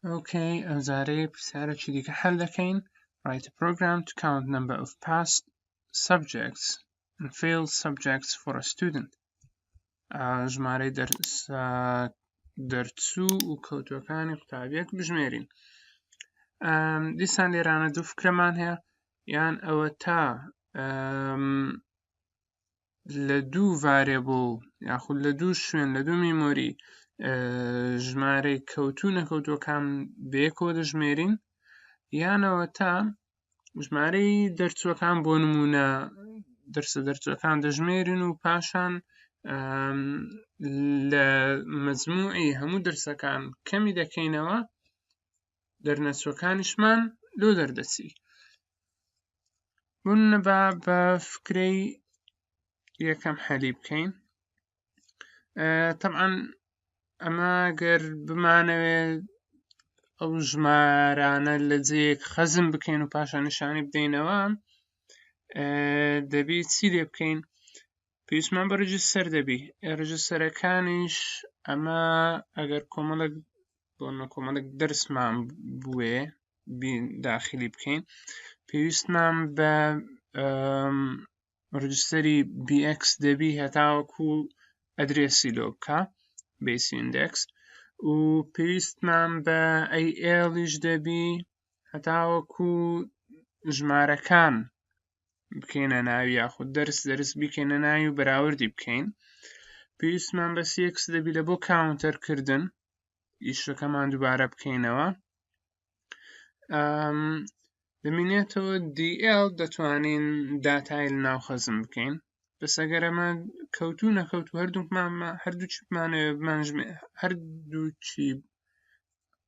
ئۆکەی ئەمجارەیە پرسیارێکی دیکە حل دەکەین write a program to count number of past subjects and failed subjects for a student ژمارەی دەرس دەرچوو و کەوتوەکانی قوتابیەک بژمێرین دیسان لێرانە دوو فکرەمان هەیە یان ئەوە تا لە دوو ڤارێبڵ یاخود لە دوو شوێن لە دوو میمۆری ژمارەی کەوتو نەکەوتوەکان بەیەکۆ دەژمێرین یانەوە تا ژمارەی دەرچوەکان بۆ نمونە دەرسە دەرچوەکان دەژمێرن و پاشان لە مەزموعی هەموو دەرسەکان کەمی دەکەینەوە دەرنەچوەکانیشمان لۆ دەردەچی من با بە فکرەی یەکەم حەلی بکەین طبعا ئەمە گەر بمانەوێت ئەو ژمارانە لە جێک خەزم بکەین و پاشان نیشانی بدەینەوە دەبی چی لێ بکەین پێویستمان بە ڕژیستەر دەبی ڕژیستەرەکانیش ئەمە ئەگەر کۆمەڵک بۆ نەکۆمەڵک دەرسمان بوێ داخلی بکەین پێویستمان بە ڕجستری BX دەبی هەتاوەکو ئەدرێسی لۆ بکە بیس ئیندکس و پێویستمان بە ئەیئێڵیش دەبی هەتاوەکو ژمارەکان بکەینە ناوی یاخود دەرس دەرس بیکەینە ناوی و بەراوردی بکەین پێویستمان بەس یەکس دەبی لە بۆ کاونتەرکردن ئیشەکەمان دووبارە بکەینەوە دەمینێتەوە دیL دەتوانین داتای لە ناو خەزم بکەین بەسەگەر ئەمە کەوتو نەکەوت و هەردووکمان هەردوو چیپمانەوە بمانژمێ هەردووچی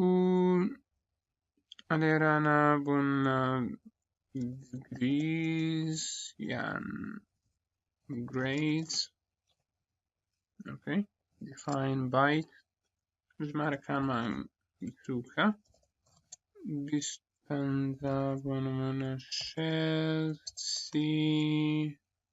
و ئەلێرانە بوون گریز یان گریز ئۆکەی دیفاین بایت ژمارەکانمان بچووکە بیست پەنجا بۆ نمونە شێست سی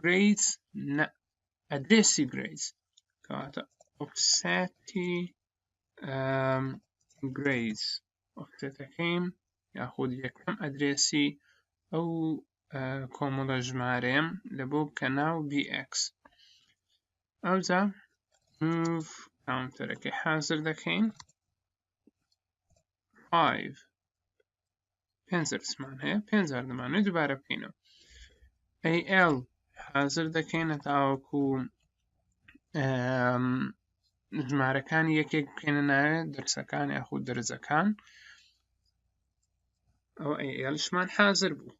گرەیس نە ئەدرێسی گرەیس کەواتە ئۆفسەتی گرەیس ئۆفسەتەکەیم یاخود یەکەم ئەدرێسی ئەو کۆمەڵە ژمارەیەم لە بۆ بکە ناو BX ئەوجا move کاونتەرەکەی حازر دەکەین 5 پێنج درسمان هەیە پێنج جار دەمانێت دووبارە بکەینەوە AL حازر دەکەینە تاوەکو ژمارەکانی یەکێک بکەینە ناوێ دەرسەکان یاخود دەرزەکان ئەو ئەلشمان حازر بوو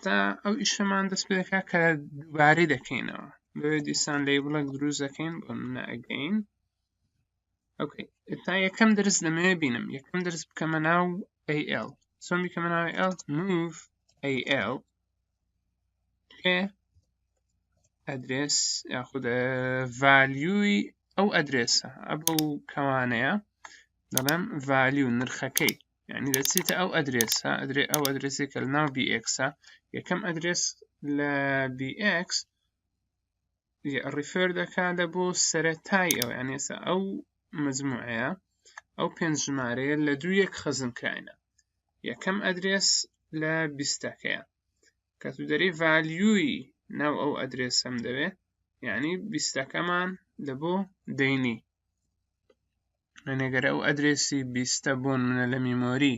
تا ئەو ئیشەمان دەست پێکا کە دووبارەی دەکەینەوە بۆیە دیسان لەی بڵک دروست دەکەین بۆ منە ئەگەین ئۆکەی ئێستا یەکەم درس لەمەوێ بینم یەکەم درس بکەمە ناو AL چۆن بیکەمە ناو AL move AL پێ ئەدرێس یاخود ڤالیوی ئەو ئەدرێسە ئەبە و کەوانەیە دەڵێم ڤالیو نرخەکەی یعنی دەچیتە ئەو ئەدرێسە ئەدرێ ئەو ئەدرێسێکە لە ناو BX یەکەم ئەدرێس لە BX ڕیفێر دەکاتە بۆ سەرەتای ئەو یانێسە ئەو مجموعەیە ئەو پێنج ژمارەیە لە دوو یەک خەزم کراینە یەکەم ئەدرێس لە بیستەکەیە کە تو دەری ڤالیوی ناو ئەو ئەدرێسم دەوێ یعنی بیستەکەمان لە بۆ دەینی منێگەرە ئەو ئەدرێسی بیستە بۆن منە لە میمۆری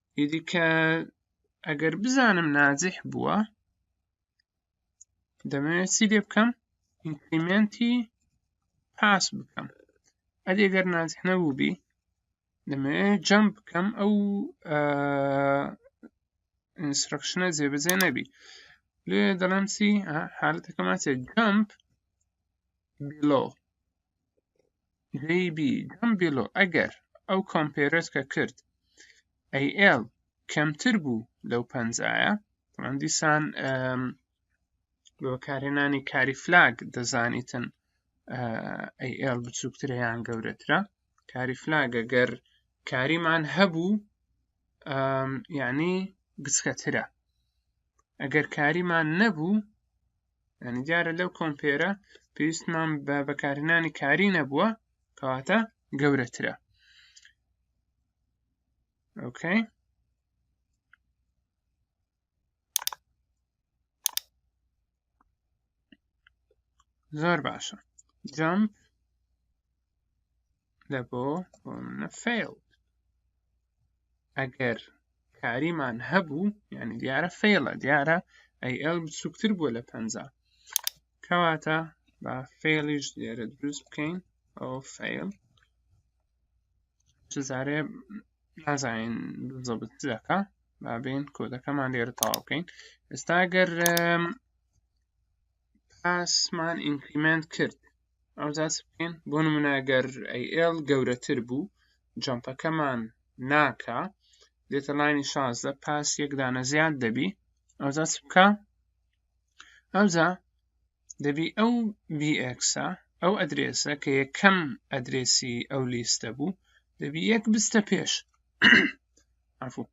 ئیدی کە ئەگەر بزانم ناجح بووە دەمەوێت چی لێ بکەم ئینکریمنتی پاس بکەم ئەدی ئەگەر ناجح نەبوو بی دەمەوێت جەم بکەم ئەو ئینسترکشنە جێبەجێ نەبی لێ دەڵێم چی حالەتەکەمان چێت جەمپ بیلۆ JB جەم بیلۆ ئەگەر ئەو کۆمپێرەت کە کرد AL کەمتر بوو لەو پەنجایە من دیسان بە بەکارهێنانی کاری فلاگ دەزانیتن AL بچووکترە یان گەورەترە کاری فلاگە گەر کاریمان هەبوو یعنی گچکەترە ئەگەر کاریمان نەبوو یعنی دیارە لەو کۆمپێرە پێویستمان بە بەکارهێنانی کاری نەبووە کەواتە گەورەترە ئۆکەی زۆر باشە جەمپ لە بۆ فێڵ ئەگەر کاریمان هەبوو یعنی دیارە فێڵە دیارە ئەیئل بچووکتر بووە لە پەنجا کەواتە با فێڵیش لێرە دروست بکەین ئەو فێڵ جزارێ نازانین زەبت دەکە با بێن کۆدەکەمان لێرە تەواو بکەین ئێستا گەر پاسمان ئینکریمنت کرد ئەوجاچ بکەین بۆ نمونەگەر ئەیL گەورەتر بوو جەمپەکەمان ناکا دێتە لاینی شازدە پاس یەکدانە زیاد دەبی ئەوجا چ بکە ئەوجا دەبی ئەو بیئکسە ئەو ئەدرێسە کە یەکەم ئەدرێسی ئەو لیستە بوو دەبی یەک بستە پێش عفو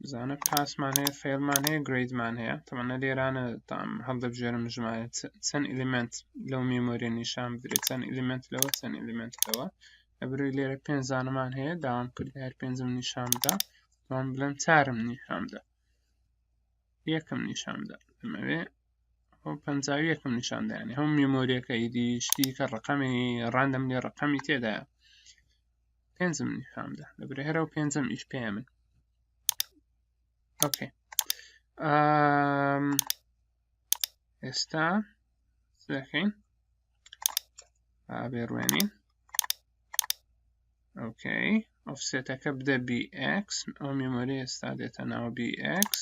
بزانە پاسمان هەیە فێرمان هەیە گریدمان هەیە تەمەە لێرانە تام هەڵدەبژێرم ژمارە چەند ئلیمنت لەو مێمۆریە نیشان بدرێت چەند ئلیمنت لەوە چەند ئلیمنتەوە ئەبروی لێرە پێنج زانمان هەیە داوام کرد هەر پێنجم نیشاندا بەڵام بڵێم چارم نیشاندا یەکەم نیشاندا ئەمەوێ پەنجاوی یەکەم نیشاندانی هەم میمۆریەکە ئیدی شتی کە ڕقەمی ڕاندەم لێ ڕقەمی تێدایە پێنجم نیشامدا دەبرێ هەرە و پێنجم ئیش پێ من ئۆکێ ئێستا دەکەین ئابێڕوێنین ئۆکەی ئۆفسێتەکە بدە BX ئەو میمۆری ئێستا دێتە ناوە BX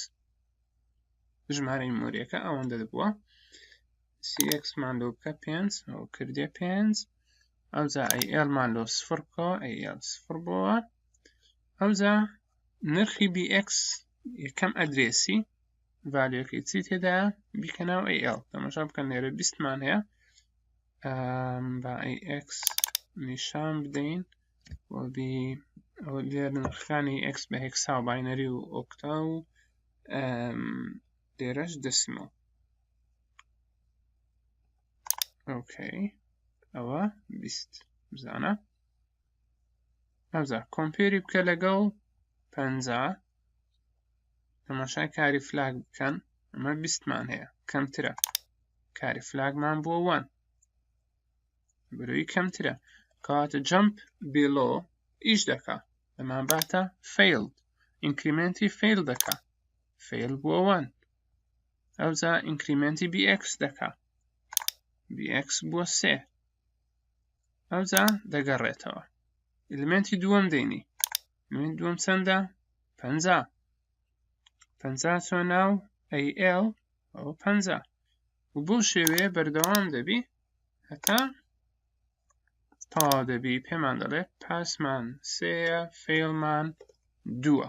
ژمارەی مۆریەکە ئەوەندە بووە سی ئێکس مان لۆ بکە پێنج ئەو کردێ پێنج ئەوجا ئەی ئێل مان لۆ سفر بکەوە ئەی ئێل سفر بۆوە ئەوجا نرخی بی ئێکس یەکەم ئەدرێسی ڤالیۆکەی چی تێدا بیکە ناو ئەی ئێل تەماشا بکەن لێرە بیستمان هەیە با ئەی ئێکس نیشان بدەین و بی ئەو لێر نرخەکانی ئێکس بە هێکسا و باینەری و ئۆکتا و لێرەش دەسیمەڵ ئۆکەی ئەوە بیست بزانە ئەوزا کۆمپێری بکە لەگەڵ پەنجا تەماشای کاری فلاگ بکەن ئەمە بیستمان هەیە کەمترە کاری فلاگمان بۆ وان بروی کەمترە کەواتە جەمپ بێلۆ ئیش دەکا ئەمان باتە فیلد ئینکریمنتی فیل دەکا فێل بووە وان ئەوجا ئینکریمنتی بی ئێکس دەکا بی ئێکس بووە سێ ئەوجا دەگەڕێتەوە ئلیمنتی دووەم دەینی من دووەم چەندە پەنجا پەنجا چۆ ناو ئەی ئێڵ ئەوە پەنجا و بۆ شێوەیە بەردەوام دەبی هەتا تا دەبی پێمان دەڵێ پاسمان سێە فێڵمان دووە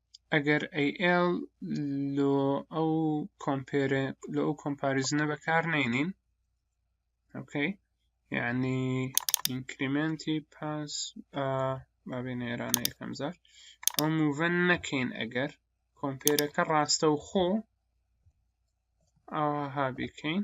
ئەگەر AL لۆ ئەو کۆمپێرە لۆ ئەو کۆمپاریزنە بەکار نینین ئۆکەی یعنی ئینکریمنتی پاس بابێ نێرانە یەکەم زار ئەو موڤەن نەکەین ئەگەر کۆمپێرەکە ڕاستە و خۆ ئاها بکەین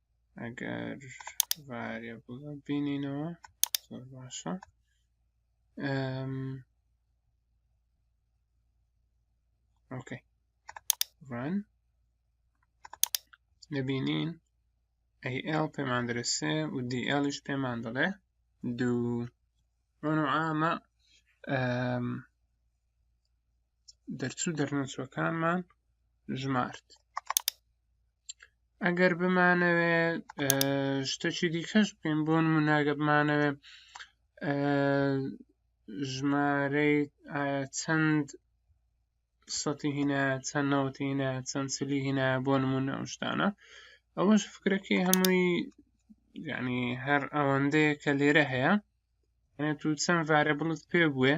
ئەگەر ڤارێ بڵە بینینەوە زۆر باشە ئۆکەی ڕان دەبینین ئەیئل پێمان دەرسێ و دیئلیش پێمان دەڵێ دوو ڕۆن و ئامە دەرچوو دەرنەچووەکانمان ژمارد ئەگەر بمانەوێ شتەکی دیکەش بکەین بۆ نموناگە بمانەوێ ژمارەی چەند سەتی هینا چەند نەوەتی هینا چەند چلی هینا بۆ نمونە ئەو شتانە ئەوەش فکرەکەی هەمووی یعنی هەر ئەوەندەیە کە لێرە هەیە یعنی تو چەند ڤارەبڵت پێ بوێ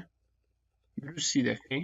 دروستی دەکەی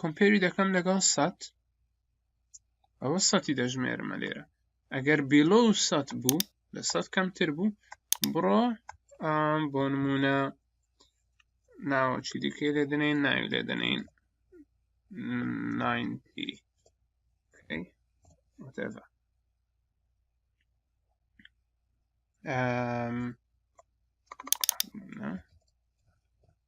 کۆمپێری دەکەم لەگەڵ سەد ئەوە سەتی دەژمێرمە لێرە ئەگەر بیلۆ سەد بوو لە سەد کەمتر بوو بڕۆ بۆ نمونە ناوەچی دیکەی لێ دەنین ناوی لێ دەنین 90 okay. whatever um, no.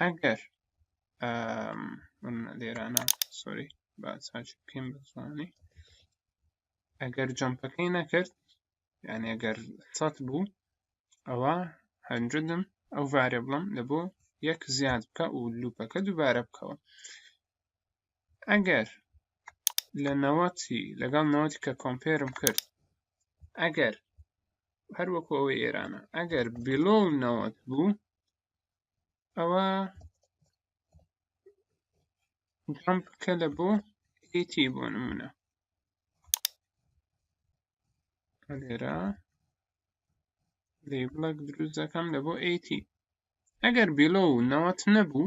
ئەگەر لێرانە سۆری با ساچ بکەین بە زمانی ئەگەر جەمپەکەی نەکرد یعنی ئەگەر سەد بوو ئەوە هەنجدم ئەو ڤارێبڵم لە بۆ یەک زیاد بکە و لوپەکە دووبارە بکەوە ئەگەر لە نەوەتی لەگەڵ نەوەتی کە کۆمپێرم کرد ئەگەر هەروەکو ئەوەی ئێرانە ئەگەر بلۆ نەوەت بوو ئەوە جەمپ بکە لە بۆ هیتی بۆ نمونە لێرە لەیبڵک دروست دەکەم لە بۆ ئەیتی ئەگەر بلۆ نەوەت نەبوو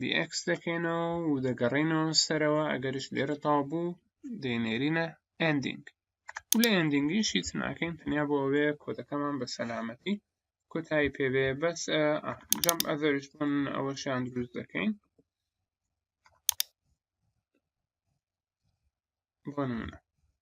dx دەکەینەوە و دەگەڕینەوە سەرەوە ئەگەرش لێرە تاو بوو دەینێرینە ئەندینگ و لە ئەندینگیش هیچ ناکەین تەنیا بۆ ئەوێ کۆدەکەمان بە سەلامەتی کۆتایی پێوێ بەس جەم ئەزەرش بوون ئەوەشیان دروست دەکەین بۆ نمونە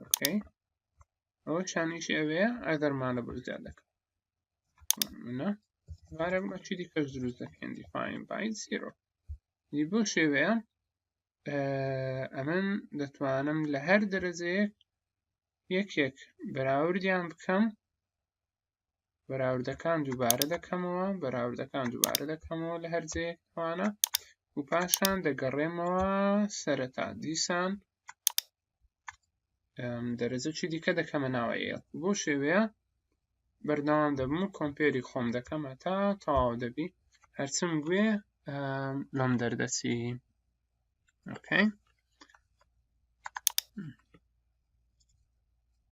ئۆکەی ئەوە شانیش ئەوەیە ئەگەرمانە بەزیاد دەکەم منە وارە بە چی دیکەش دروست دەکەن دیفاین بای زیرۆ دی بۆ شێوەیە ئەمن دەتوانم لە هەر دەرەجەیەک یەکێک بەراوردیان بکەم بەراوردەکان دووبارە دەکەمەوە بەراوردەکان دووبارە دەکەمەوە لە هەر جێیەک توانە و پاشان دەگەڕێمەوە سەرەتا دیسان دەرەجە چی دیکە دەکەمە ناوە ئێڵ بۆ شێوەیە بەردەوام دەبم و کۆمپێری خۆم دەکەمە تا تەواو دەبی هەرچم گوێ لەم دەردەچی ئۆکەی